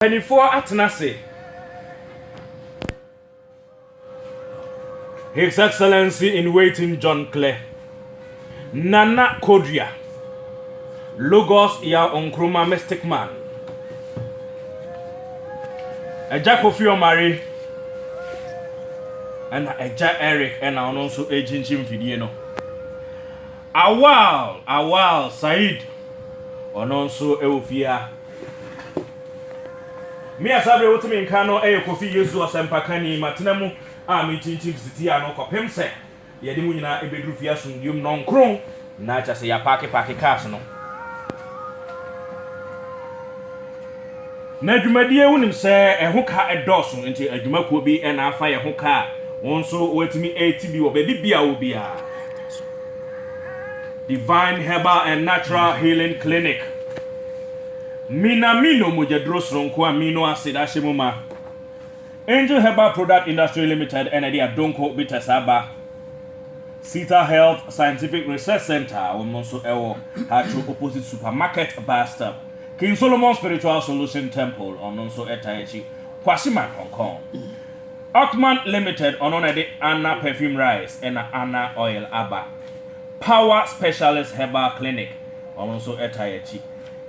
Mpanimfoɔ atena ase. His Excellency in Waiting John Klɛ Nana Kodua Logos Yaw Nkrumah Mystic Man Agya Kofi Omari ɛna Agya Eric ɛna ɔno nso ɛrekyinkyin mfidie no. Awal Awal Said ɔno nso wɔ fie ha. Me a saa bere wote me nka no yɛ Kofi Yesu Ɔsɛmpakani. Matena mu a mintintim sitiaa no kɔpem sɛ yɛde mo nyinaa beduru fie asomdwoe mu nɔnkron, na kyerɛ sɛ yɛapaake paake cars no. Na dwumadie wonim sɛ ɛho ka dɔɔso nti adwuma kuo bi na afa yɛ ho ka a wo nso woatumi ɛreti bi wɔ baabi biara wɔ biara. Divine Herbal and Natural Healing Clinic Minamino mogyaduro soronko amino acid ahyɛ mu ma. Angel Herbal Product Industry Limited na ɛde Adonko Bitters aba. Sita Health Scientific Research Centre wɔn nso wɔ Hatro opposite Supermarket bus stop. King Solomon Spiritual Solution Temple ɔno nso ɛtaa akyi Kwasima Kɔnkɔn Ockman Limited ɔno na ɛde Anna Perfume Rice ɛna Anna Oil aba Power Specialist Herbal Clinic ɔno nso ɛtaa akyi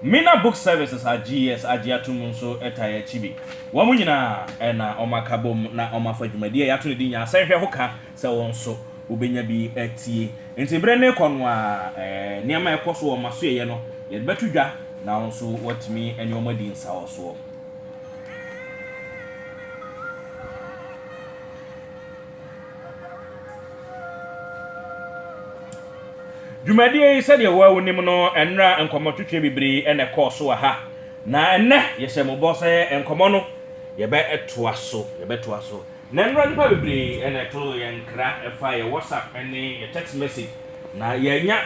Mina Book Services AGS agye atom nso ɛtaa akyi bi wɔn nyinaa na wɔn akabom na wɔn afa dwumadie a yɛato no din Nyansɛnhwɛ ho ka sɛ wo nso wobɛnya bi atie. Enti berɛ no rekɔ no ara, nneɛma a ɛkɔ so wɔ m'asoɛeɛ no, yɛde bɛto dwa na wo nso woatumi ne wɔn adi nsawɔsoɔ. Dwumadie yi, sɛdeɛ wo ara wonim no, nnora nkɔmmɔtwetwe bebree na ɛkɔɔ so wɔ ha, na ɛnnɛ yɛhyɛ mo bɔ sɛ nkɔmmɔ no yɛbɛtoa so, yɛbɛtoa so. Nnɛ nnora nnipa bebree na ɛto yɛn nkra fa yɛn WhatsApp ne yɛn text message na yɛannya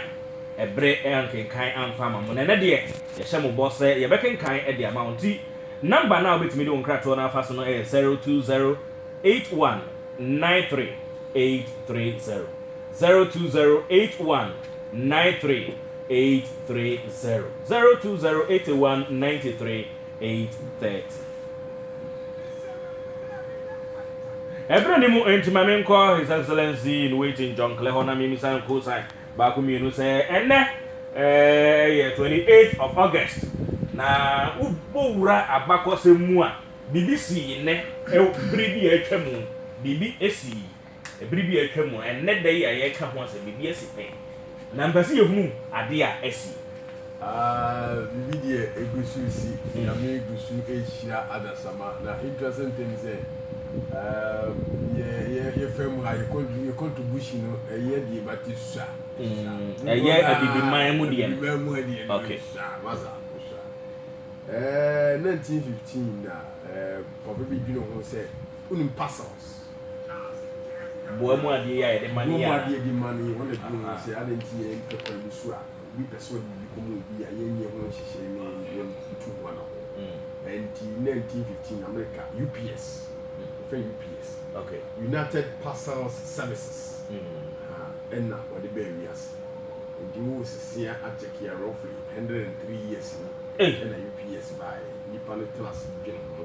bere ankenkan amfa ama mo. Na ɛnnɛ deɛ, yɛhyɛ mo bɔ sɛ yɛbɛkenkan de ama wo. Nti, number no a wobɛtumi de wo nkratoɔ no afa so no yɛ zero two zero eight one nine three eight three zero, zero two zero eight one nine three eight three zero, zero two zero eighty one ninety three. 8:30. Ɛberɛ no mu enti ma menkɔ His Excellency in Waiting John Kleh hɔ na memmisa no cosign baako mmienu sɛ ɛnnɛ yɛ 28th of August na wobɔ wura abakɔsɛm mu a biribi sii nnɛ berɛ bi a atwa mu biribi sii Bere bi a atwam mu, ɛnnɛ da yi a yɛreka ho asɛm, biribi asi pɛn, na mepɛ sɛ yɛhunu ade a asi. Aah, biribi deɛ ɛgu so resi. Nyame gu so rehyira adasamma. Na interesting thing ne sɛ, yɛ, yɛ, yɛfa mu ha, yɛ contribution no, ɛyɛ deɛ but ɛsua. Mm, ɛyɛ abibiman mu deɛ no. Abibiman mu deɛ no, ɛsua, masa, ɛsua. Ɛɛ, 1915 na ɛɛ, papa bi dwene ho sɛ, wonim puzzles. Boa mu adeɛ yi a yɛde ma ne yɛ a. Boa mu adeɛ yɛde ma ne yɛ hɔ na ɛduru ho sɛ adɛn nti yɛ mpɛ kwan bi so a obi pɛ sɛ ɔde biribi kɔma obi a yɛnyɛ ho nhyehyɛe ne yɛntu ho anabɔ. Ɛnti 1915 Amerika UPS yɛfrɛ UPS, United Parcels Services, ɛna ɔde baa wiase. Ɛnti wo sesea akyɛkea roughly 103 years ni ɛna UPS baeɛ. Nnipa no tena ase dwene ho.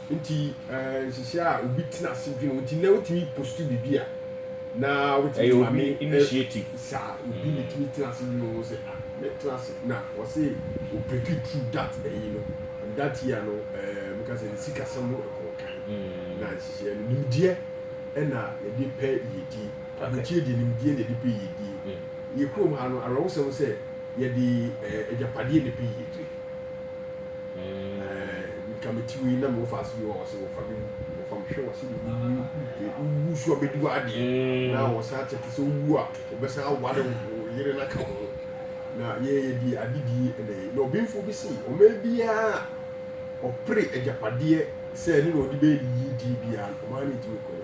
Nti nhyehyɛ a obi tena ase dwene ho nti na wotumi post biribi a na wotumi ma me initiative saa obi ne tumi tena ase dwene ho sɛ ah me tena ase na wɔse o break it through that ɛyi no and that year no ɛɛ meka sɛ ne sikasɛm ho ɛkɔɔ kan na nhyehyɛ no nimdeɛ ɛna yɛde pɛ yɛdie abukyie deɛ nimdeɛ na yɛde pɛ yɛdie yɛ kurom ha no awerɛwosɛm sɛ yɛde ɛɛ agyapadeɛ na pɛ yɛdie nka me ti wei na mewɔ faase bi wɔ ɔse wɔfa bi wɔfa me hwɛ wɔse wowu so abɛdi w'adeɛ mm. na wɔsan akyɛke sɛ wowu a wɔbɛsan aware wo yere no aka ho na yɛyɛ deɛ adedie ɛnɛ na ɔbenfoɔ bi se ɔma biara ɔpere agyapadeɛ sɛ ne na ɔde bɛyɛ ne yidie biara ɔmaa no ɛtumi kɔyɛ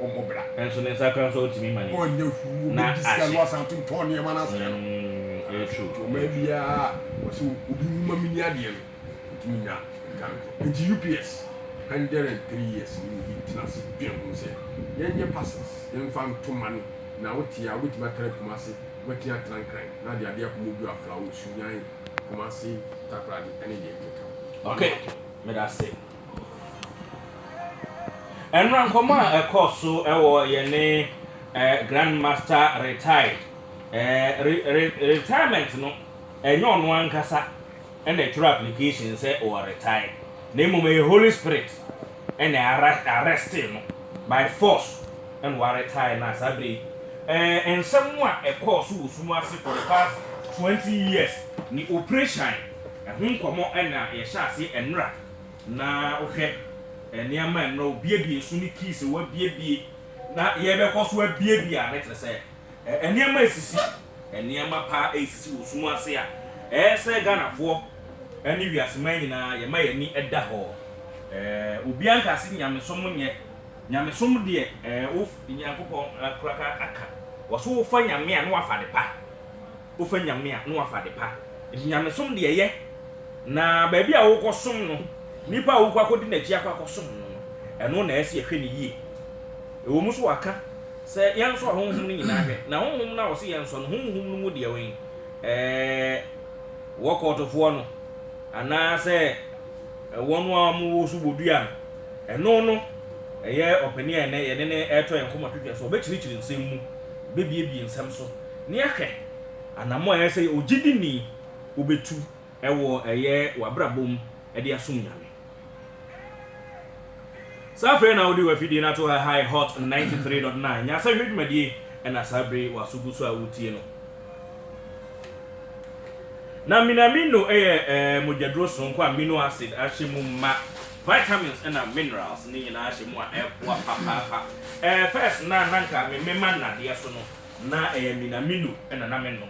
wɔmmɔ bra. Nanso ne nsa koraa nso otumi ma no nyɛ hu na ahye. Wɔbɛdi sika na wɔasan ato ntɔn nneɛma no asɛe no. Ɛyɛ true. Nti ɔmaa biara a ɔsɛ obi nwu ma menni adeɛ no, ɔtumi nya sika no kɔ. Nti UPS hundred and three years ni na obi tena ase dwen ho sɛ yɛnyɛ parcels yɛmfa nto money na wote a wobɛtumi atra Kumasi, wobɛtumi atra Nkran na de adeɛ akɔ Modu, Aflao, Sunyani, Kumasi, Takoradi ne deɛ ɛkeka ho. Okay, meda ase. Ɛnora nkɔmmɔ a ɛkɔɔ so wɔ yɛne Grand Master retired. Retirement no, ɛnyɛ ɔno ankasa na ɛtwerɛ application sɛ ɔwɔ retire, na mmom ɛyɛ Holy Spirit na arreste no by force na wa retire no a saa berɛ yi. Nsɛm a ɛkɔɔ so wɔ sum ase for the past 20 years ne operation, ɛho nkɔmmɔ na yɛhyɛ aseɛ ɛnora. Na hwɛ, nneɛma a nnɛ wobuebue so ne kii sɛ wɔabuebue na yɛbɛkɔ so abuebue ade, kyerɛ sɛ, nneɛma resisi, nneɛma pa resisi wɔ sum ase a ɛyɛ sɛ Ghanafoɔ ne wiase man nyinaa yɛma yɛn ani da hɔ. Obiara nka sɛ nyamesom nyɛ, nyamesom deɛ wo Nyankopɔn akura ka aka, wɔse wofa Nyame a na wafa adepa. wofa Nyame a na wɔafa adepa, nti Nyamesom deɛ yɛ, na baabi a wokɔsom no, nipa a wokɔ akɔdi n'akyi akɔ akɔsom no no, ɛno na ɛsɛ yɛhwɛ no yie. Ɛwɔ mu sɛ wɔaka sɛ yɛnsɔ ahonhom no nyinaa hwɛ, na honhom no a wɔse yɛnsɔ no, honhom no mu deɛ wen? Ɛɛ wɔkɔɔtofoɔ no, anaa sɛ wɔn a wɔwɔ so bɔ dua no, ɛno no ɛyɛ ɔpanin a ɛnnɛ yɛne no ɛretɔ yɛn kɔmɔ twetwe so, ɔbɛkyirikyiri nsɛm mu, ɔbɛbiebie nsɛm so, na yɛahwɛ anammɔn a ɛyɛ sɛ ogyidini wubetu wɔ ɛyɛ w'abrabɔ mu de asom Nyame. Saa afei na wode w'afidie no ato ha ha yɛ Hot 93.9 Nyansahwɛ dwumadie ɛna saa bere w'aso gu so a wotie no. Na minamino yɛ eh, mogyaduro soronko a amino acid ahyɛ mu ma, vitamins ɛna minerals ne nyinaa hyɛ mu a ɛboa papaapa. Eh, first na nanka me mema nnadeɛ so no, Ná ɛyɛ Minamino na na menom,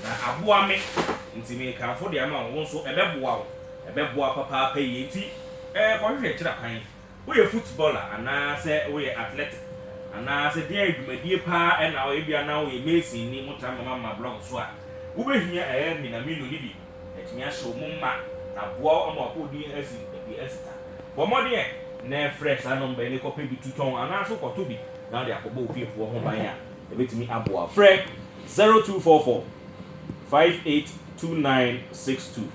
na aboa me. Enti merekamfo de ama wo. Wo nso, ɛbɛboa wo. Ɛbɛboa wo papaapa yiye. Enti kɔhwehwɛ kyerɛ kwan. Woyɛ futbɔla anaasɛ woyɛ atlɛte anaasɛ dɛn adwumadie paa na woyɛ? Ebia na woyɛ masonni, motra mmɛma ma blɔk so a, wobɛhia ɛyɛ Minamino no bi. atumi ahyɛ wo mma na aboa wo ama w'apɔw din asi adi asita. Bɔ mmɔden ɛ nnɛ frɛ saa nɔmba yi na kɔpɛ bi to tɔn anaa nso kɔtɔ bi na wode akɔbɔ wo fiefoɔ ho ban a ɛbɛtumi aboa wo. Frɛ 0244 582962,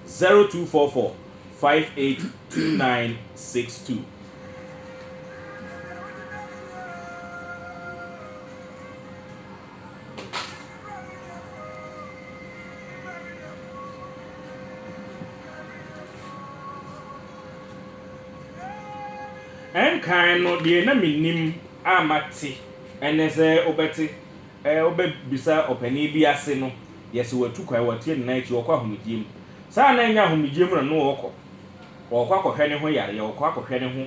0244 582962. Ɛnkan no, deɛ na mennim a mate ɛnnɛ sɛ wobɛte, wobɛbisa ɔpanin bi ase no, yɛ sɛ watu kwan, watie ne nan akyi, ɔrekɔ ahomegyeɛ mu. Saa a na ɛnyɛ ahomegyeɛ mu na na ɔrekɔ. Ɔrekɔ akɔhwɛ ne ho yareɛ, ɔrekɔ akɔhwɛ ne ho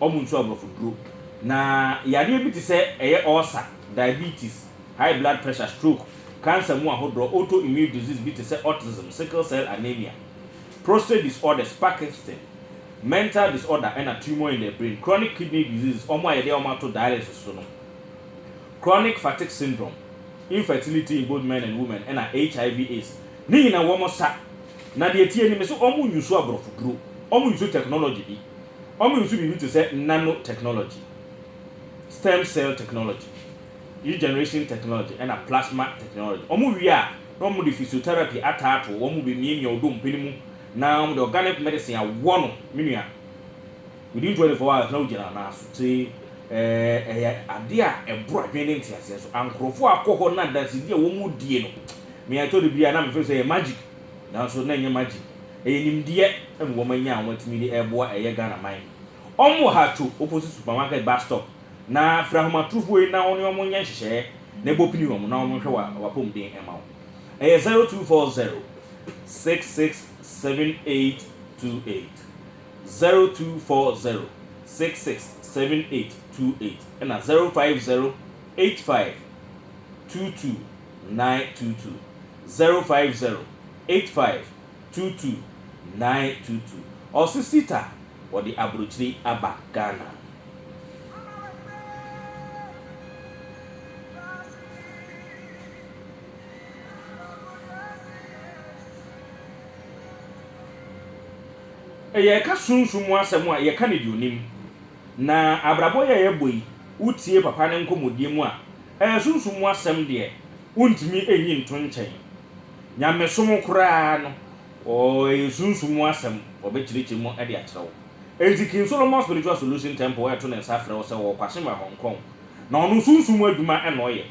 wɔnsuo aborɔfo duro. Na yareɛ bi te sɛ ɛyɛ ɔɔsa, diabetes, high blood pressure, stroke, cancer mu ahodoɔ, autoimmune disease bi te sɛ autism, sickle cell anaemia, prostate disorders, Parkinston, mental disorder ɛna tumour in the brain, chronic kidney diseases, wɔn a yɛde wɔn ato dialysis so no, chronic fatigue syndrome, infertility in both men and women ɛna HIV aids. Ne nyina wɔn sa. Na deɛ ɛteɛ ni, mese wɔn nsuo aborɔfo duro, wɔn nsuo technology bi. Wɔnso biribi te sɛ nanotechnology, stem cell technology, regeneration technology, ɛnna plasma technology. Wɔwie a, na wɔde physiotherapy ataato wɔn bemiamia wo dompe no mu, na wɔde organic medicine awɔ no, me nua. Within 24 hours, na wogyina nan so. Nti, eh, ɛyɛ ade a ɛboro adwene ne nteaseɛ so. Ankorɔfoɔ a wɔkɔ hɔ na adansedi a wɔdie no, me a ɛtɔ da bi a na mefeel sɛ ɛyɛ magic. Nanso na ɛnyɛ magic, ɛyɛ nimdeɛ ɛmu wɔn anya a wɔn atumi de ɛreboa ɛyɛ Ghana man. Wɔn wɔ ha two opposite supermarket bus stop, na frɛ ahomatrofoɔ yi na wɔne wɔn nyɛ nhyehyɛɛ na ɛbɔ pini wɔn na wɔn nhwɛ wɔn apɔmuden ɛma wo. Ɛyɛ zero two four zero six six seven eight two eight, zero two four zero six six seven eight two eight ɛna zero five zero eight five two two nine two two, zero five zero, eight five two two, nine two two. Ɔse Sita wɔde abrokyire aba Ghana. Yɛka sunsum mu asɛm a yɛka no deɛ onim. Na abrabɔ yi a yɛbɔ yi wotie papa no nkɔmmɔdie mu a Ɛyɛ sunsum mu asɛm deɛ wontumi nyi nto nkyɛn. Nyamesom koraa no, ɛyɛ sunsum mu asɛm, wɔbɛkyerɛkyerɛ mu de akyerɛ wo. Enti King Solomon Spiritual Solution Temple reto ne nsa frɛ wo sɛ ɔwɔ Kwahye ma Hong Kong, na ɔno sunsum mu adwuma na ɔyɛ.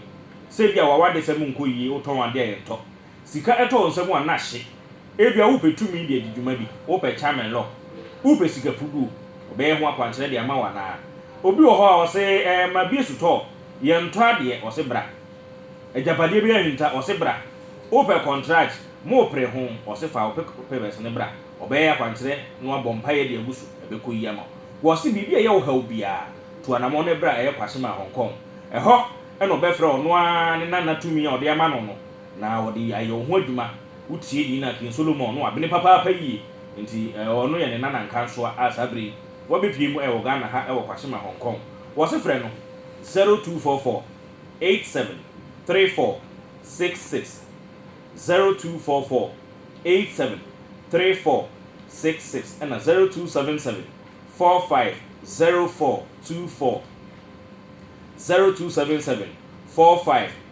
Sɛ ebia w'awadesɛm nkɔ yie, wotɔn adeɛ a yɛntɔ, Sika tɔ wo nsam a, na hye. Ebia wopɛ tumi de adi dwuma bi, wopɛ chairman lock, wopɛ sika puduo, wɔbɛyɛ ho akwankyerɛ de ama wo anaa? Obi wɔ hɔ a, ɔse, Ɛɛ, ma bi so tɔɔ, yɛntɔ adeɛ, ɔse bra. Agyapadeɛ bi ahinta, ɔse bra. Wopɛ kɔntrage, moopere ho, ɔse fa wo papers no bra, wɔbɛyɛ akwankyerɛ na wɔabɔ mpaeɛ de agu so, ɛbɛkɔ yie ama wo. Wɔse biribi a ɛyɛ wo haw biara, tu anamɔn na bra, ɛyɛ Kwashiman, Hong Kong. Ɛhɔ na wɔbɛfrɛ ɔno ara ne nana tumi a wɔde ama no no, Na wɔde ayɛ wo ho adwuma. Wotie din a King Solomon no abene papaapa yie nti ɛɛ ɔno yɛ ne Nana Nkansoa a saa bere yi wabepue mu ɛwɔ Ghana ha ɛwɔ Kwashima Hong Kong. Wɔse frɛ no 0244873466 0244873466 ɛna 0277450424 0277450424.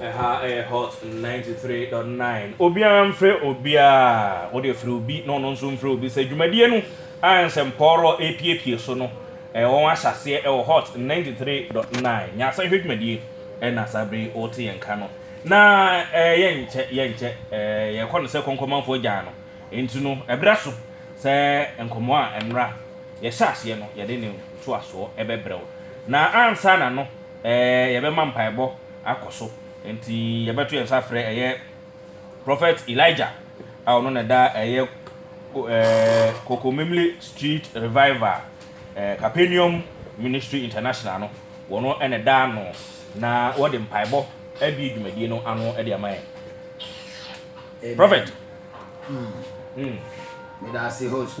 Ɛha ɛyɛ hot ninety three dot nine. Obiara mfrɛ obiara, wode frɛ obi na ɔno nso mfrɛ obi. Sɛ dwumadie no a nsɛmpɔɔrɔ epiepie so no, ɛɛ wɔn ahyɛ aseɛ ɛwɔ hot ninety three dot nine. Nyansahwɛ dwumadie ɛna saa bere yi ɔrete yɛn nka no. Na ɛɛ yɛnkyɛ yɛnkyɛ ɛɛ yɛkɔ no sɛ kɔnkɔmanfoɔ gyan no. Enti no ɛbrɛ so sɛ nkɔmɔ a ɛnora yɛhyɛ aseɛ no yɛde ne ntoasoɔ ɛbɛbrɛ wo. Na ansa na no Ɛɛ, yɛbɛma mpaebɔ akɔ so. Enti yɛbɛto yɛn nsa afrɛ ɛyɛ Prɔfɛt Elijah a ɔno na ɛda ɛyɛ ko ɛɛ Kokomemle Street Revival ɛɛ Capenium Ministry International no, wɔn na ɛda ano na wɔde mpaebɔ abue dwumadie no ano de ama yɛn. Amen. Prɔfɛt. Mm. Mm. Meda ase, host.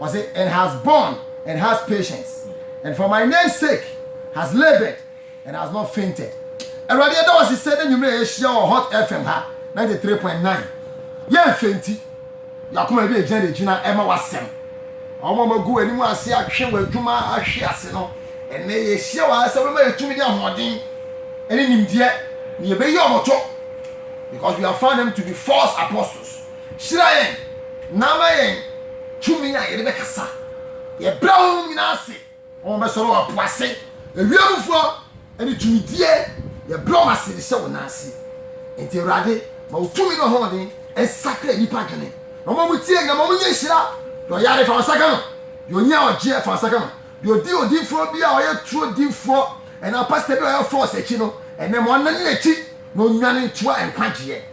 Ɔse, And has borne, and has patience, and for my name's sake has laboured, and has not fainted. Awurade yɛda wo ase sɛ na nwummerɛ yɛahyia wɔ Hot FM ha 93.9. Yɛmfenti. Yɛakoma bi ɛgyina de gyina ɛma w'asɛm. Wɔn a wɔagu w'anim ase atwe w'adwuma ahwe ase no, ɛnɛ yɛahyia wɔ ha sɛ wobɛma yɛ tumi ne ahoɔden ne nimdeɛ na yɛbɛyi wɔn to because we have found them to be false apostles. Hyira yɛn na ama yɛn tumi a yɛde bɛkasa. Yɛbrɛ honhom nyinaa ase ma wɔbɛsɔre wɔ po ase, ewiem mufoɔ ne tumidie, yɛbrɛ wɔn ase de hyɛ wo nan ase. Enti Awurade, ma wo tumi ne w'ahoɔden nsakra nnipa adwene, na wɔn a wɔtie nyinaa, ma wɔnyɛ nhyira. Deɛ ɔyare, fa wo nsa ka no. Deɛ ohia, ɔgyeɛ, fa wo nsa ka no. Deɛ ɔdi odiyifoɔ bi a ɔyɛ turo difoɔ anaa pastor bi a ɔyɛ false akyi no, ɛnnɛ ma ɔnnane n'akyi na ɔnnwane ntoa nkwagyeɛ.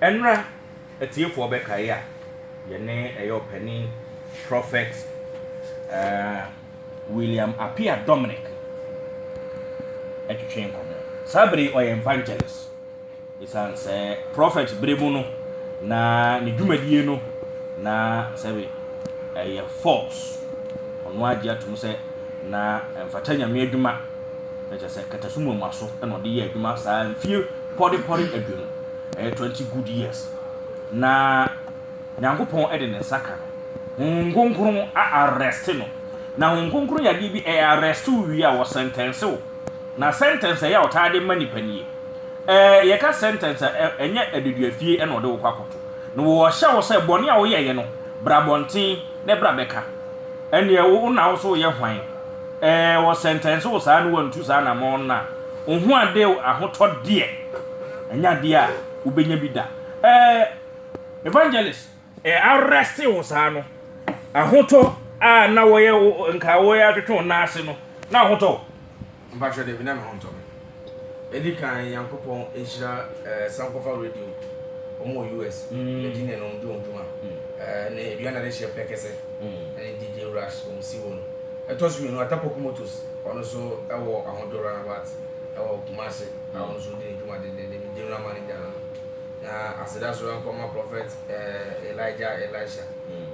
Ɛnra atiefoɔ bɛkae a yɛne ɛyɛ ɔpanin Prophet eh, William Appiah Dominic ɛtwetwe nkɔmɔ. Saa bere yi ɔyɛ evangelist. Ɛsiane sɛ Prophet bere mu no na ne dwumadie no na sɛbe ɛyɛ false. Ɔno agye atom sɛ na ɛmfata Nyame adwuma. na kyerɛ sɛ nkataso mu mmuaso na ɔde yɛɛ adwuma saa mfie pɔrepɔre aduonu, ɛyɛ twenty good years. Na Nyankopɔn de ne nsa ka no, Honhom Kronkron a arrest no. Na Honhom Kronkron yɛ adeɛ bi, ɛyɛ arrest wo wie a, wɔsɛntɛnse wo. Na sɛntɛnse ɛyɛ a ɔtaa de ma nipa nie. Ɛɛ, yɛka sɛntɛnse a, ɛnyɛ adeduafie na ɔde wo kɔ akɔto. Na wɔhyɛ wo sɛ bɔne a woyɛeɛ no, bra abɔnten na bra bɛka. Ɛnneɛ wo na wo so woyɛ hwan? Ɛɛ, wɔ sɛntɛnse wo saa ne wantu saa anamɔn no a, wo ho ade o, ahotɔ deɛ, ɛnyɛ adeɛ a wobɛnya bi da. Ɛɛ, Evangelist. Ɛɛ, arrest wo saa no, ahotɔ a na wɔyɛ wo, nka wɔyɛ atwetwe wo nan ase no, na ahotɔ o? Mpakyɛ, Dabi, na me ho ntɔ me. Edi kan Nyankopɔn nhyira eh Sankofa radio ɔmo wɔ US yɛdi nɛ nom di ɔmo dwuma eh nɛ aduan na de hyɛ pɛ kɛsɛ ɛne DJ Rush ɔmo si wɔ no ɛtɔ so mienu Atapɔku Motos ɔno so ɛwɔ Ahojo Runabout ɛwɔ Kumasi a ɔno so ɔdi ne dwuma dendenden me General Manager no no na aseda so ɛnkɔ ma Prophet eh Elijah Elisha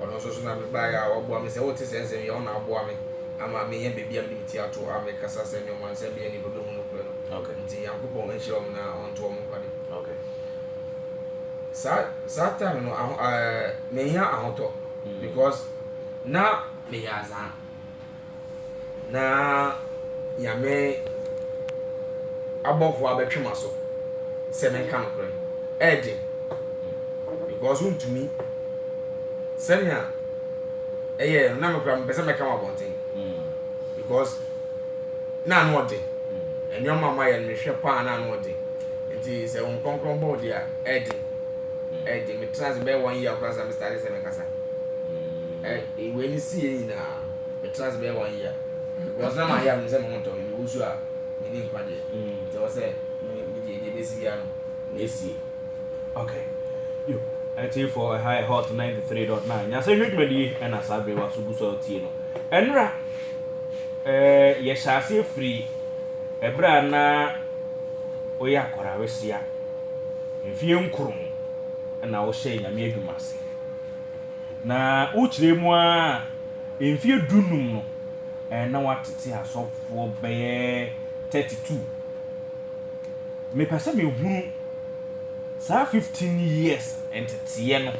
Ɔno nso so na mebaeɛ a waboa me sɛ wote saa nsɛm yi a, ɔno na aboa me ama menya baabi a mede me ti ato a mekasa sɛdeɛ ɔmansɛm bɛyɛ nnipa bɛhu nokorɛ no. Okay. Nti Nyankopɔn nhyira wɔn na ɔnto wɔn nkwa de. Okay. Saa saa time no aho ɛɛ menya ahotɔ mm. because na meyɛ azaa. na Nyame abɔfoɔ abɛtwe m'aso sɛ menka nokorɛ. Ɛyɛ den because wontumi sɛnea ɛyɛɛ no na me koraa mepɛ sɛ mɛka wɔ abɔnten because na ano ɔden nneɛma a moayɛ no mehwɛ paa na ano ɔden nti sɛ wɔn kronkron bɔ ɔde a ɛyɛ den ɛyɛ den metena ase bɛyɛ wɔn yie akora sɛ mestade sɛ mekasa ɛyɛ Wei ne sii yɛ nyinaa me tena ase bɛyɛ one year because na mayɛ a menim sɛ me ho ntɔ me mewu so a menni nkwa deɛ nti ɛwɔ sɛ me deɛ deɛ bɛsi biara no mɛsie. Ok yo atiefoɔ ɛha yɛ hot 93.9 nyasɛhwɛ dwumadie ɛna saa bere wa so gu so a wotie no ɛnora eh, yɛhyɛ aseɛ firi ɛberɛ a na woyɛ akɔra wesia mfie nkron ɛna wohyɛ nyame adwuma ase Na wokyerɛ mu ara a, mfeɛ du-nnum no, na watete asɔfoɔ bɛyɛ thirty two. Mepɛ sɛ mehunu saa fifteen years nteteeɛ no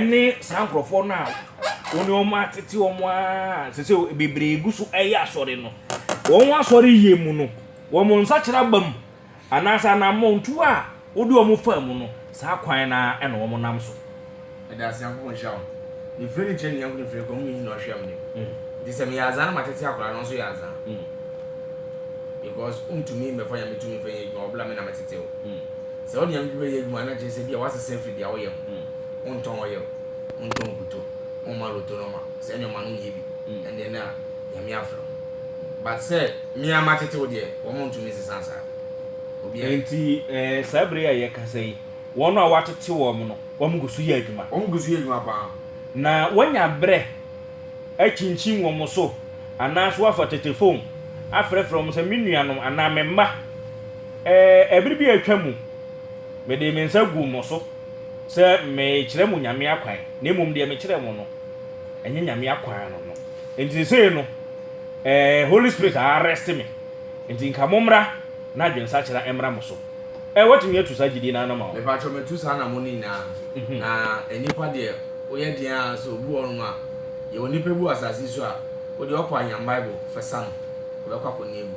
ne saa nkurɔfoɔ no a wo ne wɔn atete wɔn ara a sese bebree gu so reyɛ asɔre no, wɔn asɔreyɛ mu no, wɔn nsakyera aba mu. Anaasɛ anammɔntuo a wode wɔn faa mu no, saa kwan no ara na wɔnam so. Meda ase Nyankopɔn nhyira wo. Mefiri ne nkyerɛ ne yɛnko ne firi kwa home nyina ɔhwɛ mene mu nti sɛ meyɛ azaa na matete akwadaa no nso yɛ azaa because wontumi mmɛfa Nyame tumi mfa nyɛ adwuma wɔbla me na metete wo sɛ wode Nyame tumi yɛ adwuma a na kyerɛ sɛ bi a woasesa afiri deɛ woyɛ ho wontɔn oil wontɔn nkuto womma loto no ma sɛ nneɛma no nyɛ bi ɛndeɛ na Nyame afrɛ wo. But sɛ me ara matete wo deɛ, wɔn ntumi nsesa saa. Obiara. Enti eh, saa bere yi a yɛrekasa yi, wɔn a wɔatete wɔn no, wɔn gu so yɛ adwuma. Wɔn gu so yɛ adwuma pa ara. Na wɔanya bere akyinkyin wɔn so, anaasɛ wɔafa tetefon afrɛfrɛ wɔn sɛ, Me nuanom anaa me mma, eh, bere bi a atwam, mede me nsa guu mo so. sɛ mekyerɛ mo Nyame akwan, na mmom deɛ mekyerɛ mo no, ɛnyɛ Nyame akwan no no. Nti sesei no, eh, Holy Spirit a arrest me, nti nka mommra na adwensakyera mmra mo so. Eh, woatumi atu saa gyidie no ara no ama wo? Mepakyɛw matu saa anamɔ no nyinaa. Na nnipa deɛ, woyɛ den ara sɛ obi wɔ hɔnom a, yɛwɔ nnipa bi wɔ asase yi so a, wo deɛ ɔkɔ anyam Bible fɛsa no, ɔbɛkɔ akɔnni agu.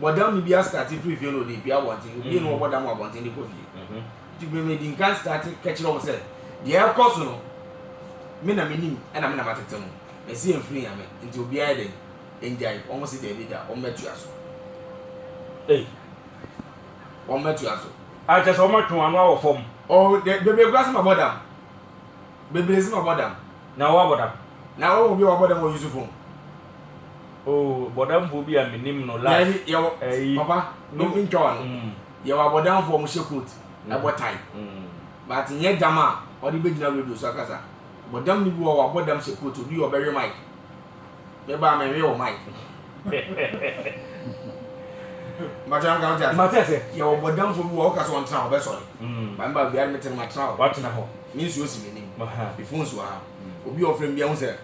Bɔdam no bi astate firi fie na ɔde repue abɔnten, obi na ɔbɔ dam wɔ abɔnten de kɔ fie. Nti me medi nkan state kɛkyerɛ wɔn sɛ deɛ ɛrekɔ so no me na menim ɛna me na matete ho. Mɛsi ɛmfiri nyame nti obiara yɛ dɛn ɛngyae wɔn se daabi da wɔn bɛtua so. Ei wɔn bɛtua so. Ah kyerɛ sɛ wɔn atwe wɔn ano awɔ fam. Oh bebree koraa se mabɔ dam. Bebree se mabɔ dam. Na wo abɔ dam? Na wɔn obi a wabɔ dam wɔ Yusufon. Oh bɔdamfoɔ bi a me nim no last. Daabi yɛwɔ ɛyi. Papa no me ntwa wano. Mm. Yɛwɔ abɔdamfoɔ ɔmo hyɛ coat mm. ɛbɔ tie. Mm. But nyɛ dam a ɔde bɛ gyina radio so akasa. Bɔdam ni bi wɔ wabɔ dam hyɛ coat odu yɛ ɔbɛwe mic. Me ba me nwe wɔ mic. Makyɛ nka ɔte ase. Mate ase. Yɛwɔ bɔdamfoɔ bi wɔ ɔka sɛ ɔntena ɔbɛ sɔre. Mm. Ba me ba biara me tena matena hɔ. Watena hɔ. Me nsuo si me nim. Me phones wɔ ha. Obi ɔfrɛ me bi ahu sɛ.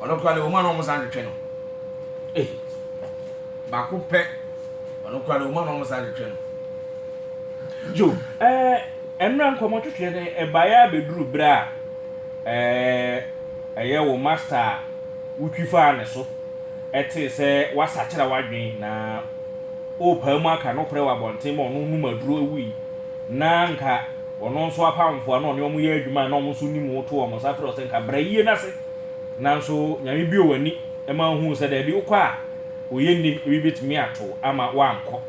Ɔno koraa deɛ ɔmu a na ɔmo san twetwe no ei baako pɛ ɔno koraa deɛ ɔmu a na ɔmo san twetwe no. Yo ɛɛ mmra nkɔmɔ twetwe no ɛbaeɛ ara bɛduru berɛ a ɛɛ ɛyɛ wo master a wotwi faa ne so ɛtee sɛ wasakyera w'adwene na ɔɔpaa mu aka nokorɛ wɔ abɔnten ma ɔno nom aduro ɛwui na nka ɔno nso apamfoɔ a na ɔne ɔmo yɛ adwuma a na ɔmo nso nim wo to ɔmo nsa frɛ wo sɛ nka bra yie no ase Nanso Nyame buee w'ani ma wohuu sɛ daabi, wokɔ a oye nnim, ebi betumi ato wo ama woankɔ.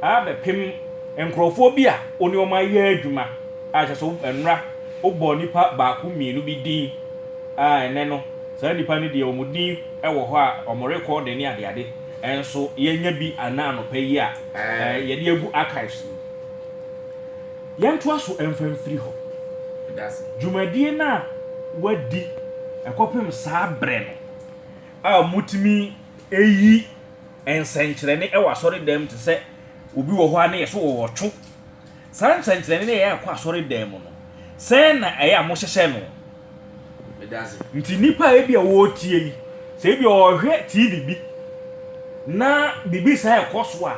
Ara bɛpem nkurɔfoɔ bi a wo ne wɔn ayɛ adwuma a kyerɛ sɛ nnora wobɔɔ nipa baako mmienu bi din a ɛnnɛ no saa nipa no deɛ wɔn din wɔ hɔ a wɔn rekɔɔde ne adeade nso yɛanya bi anaa anɔpa yi a yɛde agu archives mu. Yɛntoa so mfa mfiri hɔ. Dwumadie no a wɔadi kɔpem saa berɛ no a wɔtumi yi nsɛnkyerɛnne wɔ asɔredan mu te sɛ obi wɔ hɔ a na yɛse wɔwɔtwo, saa nsɛnkyerɛnne no a ɛyɛ kɔ asɔredan mu no, sɛn na ɛyɛ a mohyehyɛ no? Nti nnipa a ebi a wɔretie yi, sɛ ebi a ɔhwɛ TV bi na biribi saa ɛkɔ so a,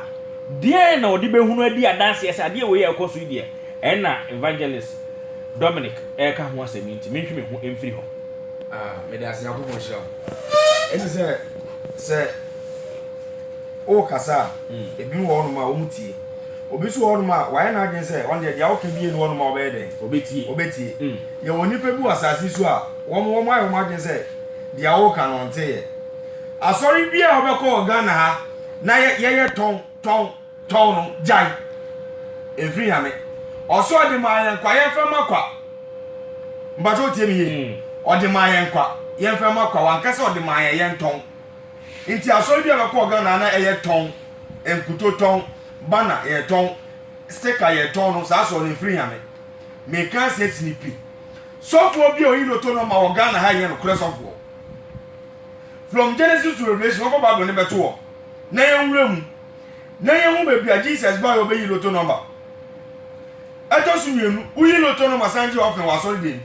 deɛn na ɔde bɛhunu adi adanseɛ sɛ adeɛ wei a ɛkɔ so yi deɛ, ɛna Evangelist Dominic ɛreka ho asɛm yi nti mentwe me ho mfiri hɔ. Ah, meda ase Nyankopɔn nhyira wo. Ɛne sɛ sɛ wokasa a, hmm. ebi wɔ hɔnom a wɔn tie. Obi nso wɔ hɔnom a wayɛ n'adwene sɛ ɔno deɛ deɛ woka bie no hɔnom a ɔbɛyɛ dɛn? Obetie. Obetie. Hmm. Yɛwɔ nnipa bi wɔ asase yi so a, wɔn wɔn ayɛ wɔn adwene sɛ deɛ woreka no ɔnte yɛ. Asɔre bi a wobɛkɔ wɔ Ghana ha na yɛ yɛyɛ tɔn tɔn tɔn no, gyae. Ɛmfiri Nyame. Ɔse ɔde maa yɛn kwa, yɛmfa ma kwa. Mpakyɛ wotie me yie? Ɔde maa yɛn kwa, yɛmfa ma kwa. Wanka sɛ ɔde maa yɛn yɛntɔn. Nti asɔre bi a wobɛkɔ wɔ Ghana ha na ɛyɛ tɔn, nkuto tɔn, banner yɛtɔn, sticker yɛtɔn no, saa asɔre no ɛmfiri Nyame. Meka asɛ sini pi. Sɔfoɔ bi a ɔyi loto no ma wɔ Ghana ha yɛ nokorɛ sɔfoɔ. From Genesis to Revelation wɔkɔ Bible no bɛto hɔ na yɛnwura mu na yɛhu baabi a Jesus baeɛ ɔbɛyi loto nɔmba. Ɛtɔ so mmienu, woyi loto nɔmba san gye ɔfena wɔ asɔredan mu.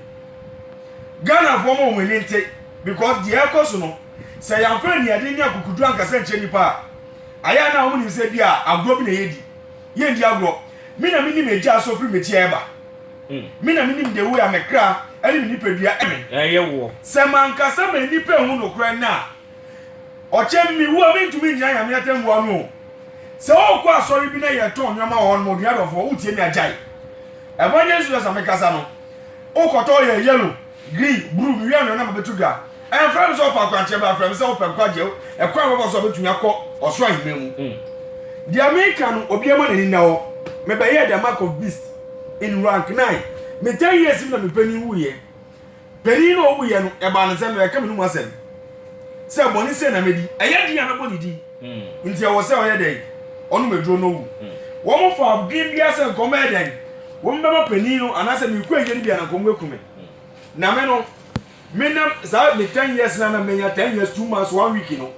Ghanafoɔ ma wɔn ani nte because deɛ ɛrekɔ so no sɛ yɛamfa aniadeɛ ne akukuduro ankasa nkyerɛ nnipa a, ayɛ a na wɔnim sɛ bi a agorɔ bi na yɛredi. Yɛnndi agorɔ, me na menim agyaa so firi me teɛ ɛba. Me na menim the way a me kra ɛne me nipadua ɛme. Ɛyɛ woɔ. Sɛ manka sɛ ma nnipa nhu nokorɛ nnɛ a, ɔkyɛ me wu a mentumi ngyina Nyame atɛmmuo ano o. Sɛ wokɔ asɔre bi na yɛtɔn nnoɔma wɔ hɔ nom a, odua dɔfoɔ, wotie me agyae. Evangelist Susan, mekasa no, wokɔtɔ yɛ yellow, green, bruu, mewie anwea na mabɛto dwa. Ɛmfrɛ no sɛ ɔpɛ akwankyerɛ bra, frɛ no sɛ ɔpɛ nkwagyeɛ, ɛkwan a ɔbɛfa so a ɔbɛtumi akɔ ɔsoro aheman mu. Deɛ meka no, obiara ma n'ani nna hɔ. Mebɛyɛɛ the mark of beast in rank nine. Me ten years mu na me panin wuiɛ. Panin no a ɔwuiɛ no, ɛbaa no sɛ mebɛka m'anom asɛm sɛ bɔne sei na mɛdi, ɛyɛ den a mɛbɔ ne din, nti ɛwɔ sɛ ɔyɛ dɛn? Ɔnom aduro na ɔwu. Wɔmfaa adwene biara sɛ nka wɔbɛyɛ dɛn? Wɔbɛma panin no anaasɛ mekɔ ayie no bi a na nka wɔbɛku me. Na me no, Me na saa me ten years na na menya ten years two months one week no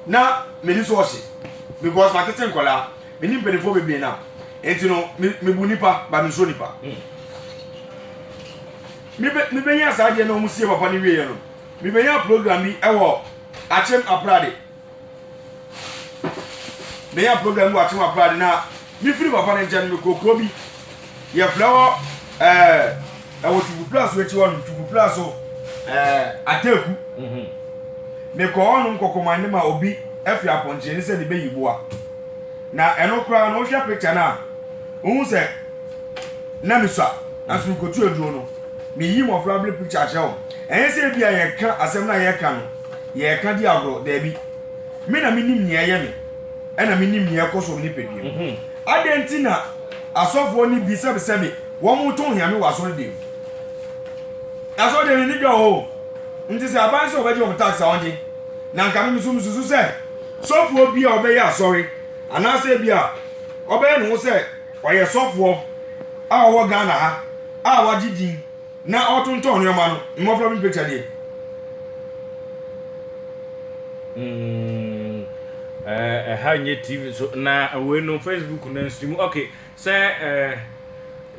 na m'ani so ɔhye because ma tete nkɔla me ni mpanimfoɔ bebree na nti no me me bu nipa ba me nsoro nipa mm. me be me benya saa deɛ na wɔn sie papa ne wie yɛ no me benya program bi ɛwɔ akyem aprade. menya program bi wɔ akyem abrade na mefiri papa no nkyɛn no mekɔɔ kuro bi yɛfrɛ hɔ ɛɛ ɛwɔ twubupla so akyi hɔnom twubupla so ɛɛ ataku mhm. mekɔɔ hɔnom kɔkɔmande ma obi afiri apɔnkye ne sɛ ne bɛyi boa na ɛno koraa no wohwɛ picture no a wohu sɛ na mesua nanso mekɔtu aduro no meyi mmɔfra bere picture akyerɛ wɔn ɛnyɛ sɛ ebi a yɛka asɛm no a yɛka no Yɛreka di agorɔ? Dabi. Me na menim nea ɛyɛ me, ɛna menim nea ɛkɔ so wɔ me nipadua mu. Adɛn nti na asɔfoɔ no bi sɛbesɛ me, wɔreto hia me wɔ asɔredan mu? Asɔredan no ani dɔ o, nti sɛ aban sɛ wɔbɛgye wɔn tax a, wɔngye. Na anka me nso mesusu sɛ sɔfoɔ bi a ɔbɛyɛ asɔre anaasɛ bi a ɔbɛyɛ ne ho sɛ ɔyɛ sɔfoɔ a ɔwɔ Ghana ha a wagye din, na ɔtontɔn nneɛma no mmɔfra bi picture nie. Mm, eh, eh, ha nye TV so na we no Facebook na stream. Okay, sɛ eh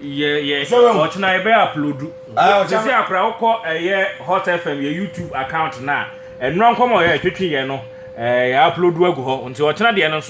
yɛ yɛ ɔkyena yɛ bɛ upload. Ah, sɛ sɛ akora wokɔ ɛyɛ eh, Hot FM yɛ YouTube account na ɛnura nkɔmɔ yɛ twetwe yɛ no eh yɛ upload agu hɔ. Nti ɔkyena deɛ no nso